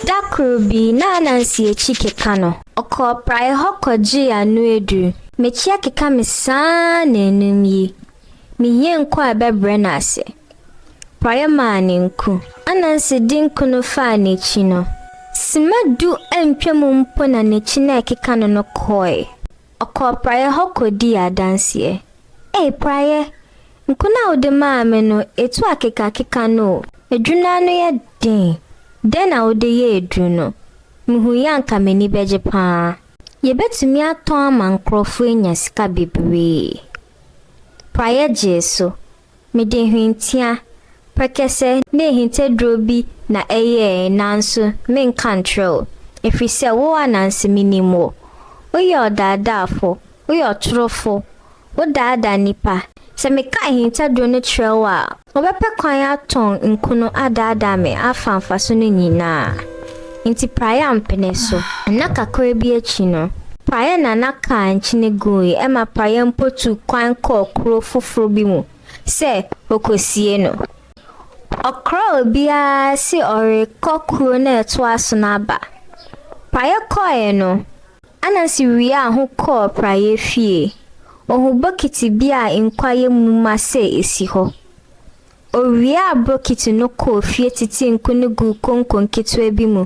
Da koro bi, na Anansi akyi keka no. Ɔkɔɔ praeɛ hɔ kɔgyee ano aduru. M'akyi akeka me saa nnanum yi. Meyie nkɔ a ɛbɛbrɛ no ase. Praeɛ maa no nku. Anansi de nku no faa n'akyi no. Sima du antwam mpo na n'akyi no a ɛkeka no no kɔeɛ. Ɔkɔɔ praeɛ hɔ kɔdii adanseɛ. Ei praeɛ! Nko no a wode maa me no, ɛtu akekakeka no o. Aduru no ano yɛ den. Dɛn na wode yɛɛ aduru no? Mehui a anka m'ani bɛgye pa ara. Yɛbɛtumi atɔn ama nkorɔfoɔ anya sika bebree. Praeɛ gyee so. Mede hwentia, prɛkɛsɛ ne ahintaduro bi na ɛyɛɛe nanso menka nkyerɛ wo, ɛfiri sɛ wo ananse menim wo. Woyɛ ɔdaadaafo, woyɛ ɔtorofo, wodaadaa nnipa. Sɛ meka ahintaduro no kyerɛ wo a, wobɛpɛ kwan atɔn nkono adaadaa me afa mfaso no nyinaa. Nti praeɛ ampene so. Nna kakra bi akyi no. Praeɛ na na kaa nkyene guui ɛma praeɛ mpo tu kwan kɔɔ kuro foforo bi mu sɛ ɔkɔsie no. Ɔkra obiara se ɔrekɔ kuro no a ɛtoa so no aba. Praeɛ kɔeɛ no, Anansi wiaa ho kɔɔ praeɛ fie. Ɔhu bokiti bi a nkwa yɛ mu ma sɛ ɛsi hɔ. Owiaa bokiti no kɔɔ fie titee nku no guu konko nketewa bi mu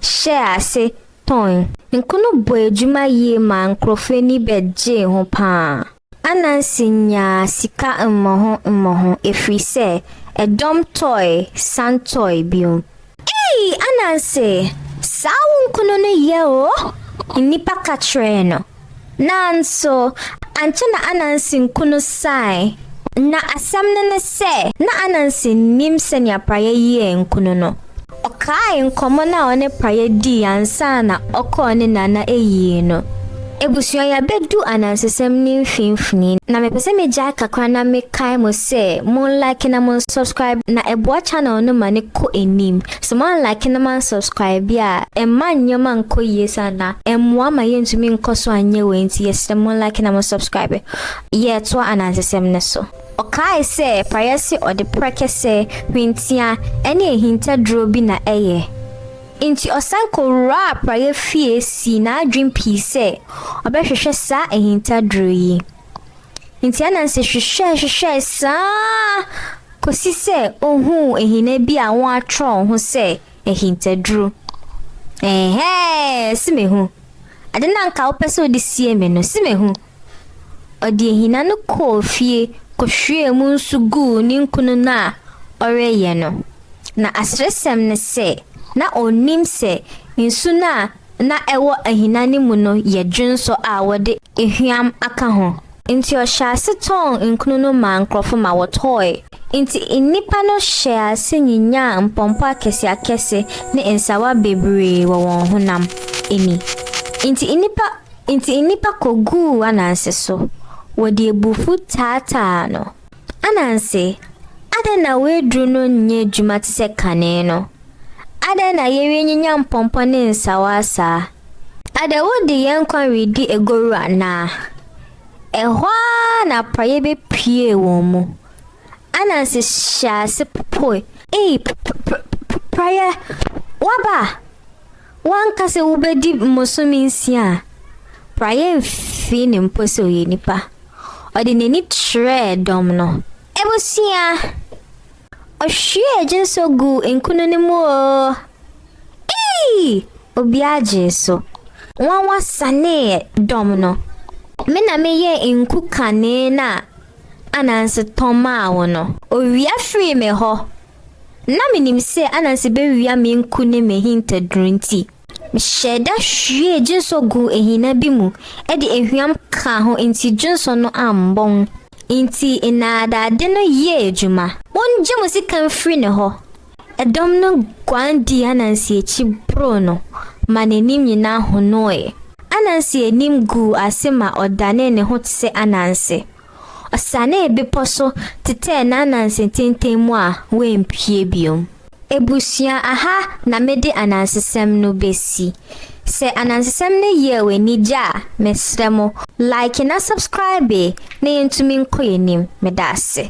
hyɛɛ ase tɔnn. Nku no bɔɔ adwuma yie maa nkurɔfo ani bɛgyee ho pa ara. Anansi nyaa sika mmɔho mmɔho ɛfiri sɛ ɛdɔm tɔe san tɔe bio. Ei Ananse, saa wo nkunu no yɛ o, nnipa ka kyerɛɛ no. Nanso, ankyɛ na Ananse nkunu sae. Ná asɛm no ne sɛ, na Ananse nnim sɛnea Prayɛ yɛɛ nkunu no. Ɔkaee nkɔmmɔ no a ɔne Prayɛ dii ansa na ɔkɔɔ ne nana ayie no. Abusua yɛabɛdu anansesɛm no mfimfini na mepɛ sɛ megyae kakra na mekae mo sɛ mo nlike na mo nsubscribe na ɛboa channel no ma no kɔ anim. Sɛ mo anlike na mo ansubscribe a ɛmma nneɛma nkɔ yie saa na ɛmmoa ma yɛntumi nkɔ so anyɛ wei nti yɛsrɛ mo nlike na mo nsubscribe. Yɛretoa anansesɛm no so. Ɔkae sɛ praeɛ se ɔde prɛkɛsɛ, hwentia, ne ahintaduro bi na ɛyɛ. Enti ɔsan kɔwuraa praeɛ fie sii n'adwene pi sɛ ɔbɛhwehwɛ saa ahintaduro yi. Enti Ananse hwehwɛɛ hwehwɛɛ saa ara kɔsi sɛ ɔhuu ahina bi a wɔatwerɛ ho sɛ ahintaduro. Ɛhɛɛ, se mehu. Ade no a anka wopɛ sɛ wode sie me no, se mehu. Ɔde ahina no kɔɔ fie kɔhwiee mu nsu guu ne nkunu no a ɔreyɛ no. Na aseresɛm ne sɛ, na onnim sɛ nsu no a na ɛwɔ ahina no mu no yɛ dwonsɔ a wɔde ehwam aka ho. Enti ɔhyɛɛ ase tɔn nkunu no maa nkurɔfo ma wɔtɔe. Enti nnipa no hyɛɛ ase nyinyaa mpɔmpɔ akɛseakɛse ne nsawa bebree wɔ wɔn honam ani. Enti nnipa Enti nnipa koguu Ananse so, wɔde abufuw taataa no. Ananse, adɛn na w'aduru no nyɛ adwuma te sɛ kane no? Adɛn na yɛrenyinya mpɔmpɔ ne nsawaa saa? Adɛn wode yɛn nkwa redi agoru anaa? Ɛhɔ ara na aporɔeɛ bɛpuee wɔn mu. Ananse hyɛɛ ase popoe. Ei, p-p-p-p-praeɛ, woaba! Woanka sɛ wobɛdi mmosome nsia a praeɛ mfii no mpo sɛ ɔyɛ nipa. Ɔde n'ani kyerɛɛ dɔm no. Abusua! Ɔhwiee gyensɔ guu nkunu no mu oo! Eii! Obiara gyee so. Nwanwa saneeɛ dɔm no. Me na meyɛɛ nku kanee no a ananse tɔmaa wo no. Owia firii me hɔ Ná minim sɛ Ananse bewia me nku ne m'ahintaduru nti, mehyɛɛ da hwiee dwensɔ guu ahina bi mu de ahuam kaa ho nti dwensɔ no ammɔn. Enti nnaadaade no yɛɛ adwuma. Wogye mo sika mfiri ne hɔ! Ɛdɔm no guan dii Ananse akyi boroo no ma n'anim nyinaa honooe. Ananse anim guu ase ma ɔdanee ne ho te sɛ Ananse. Ɔsianee bepɔ so tetɛɛ n'ananse tenten mu a wampue bio. Abusua aha na mede anansesɛm no bɛsi. Sɛ anansesɛm no yɛɛ w'ani gye a, mesrɛ mo, like na subscribe na yɛntumi nkɔ yɛn anim. Meda ase.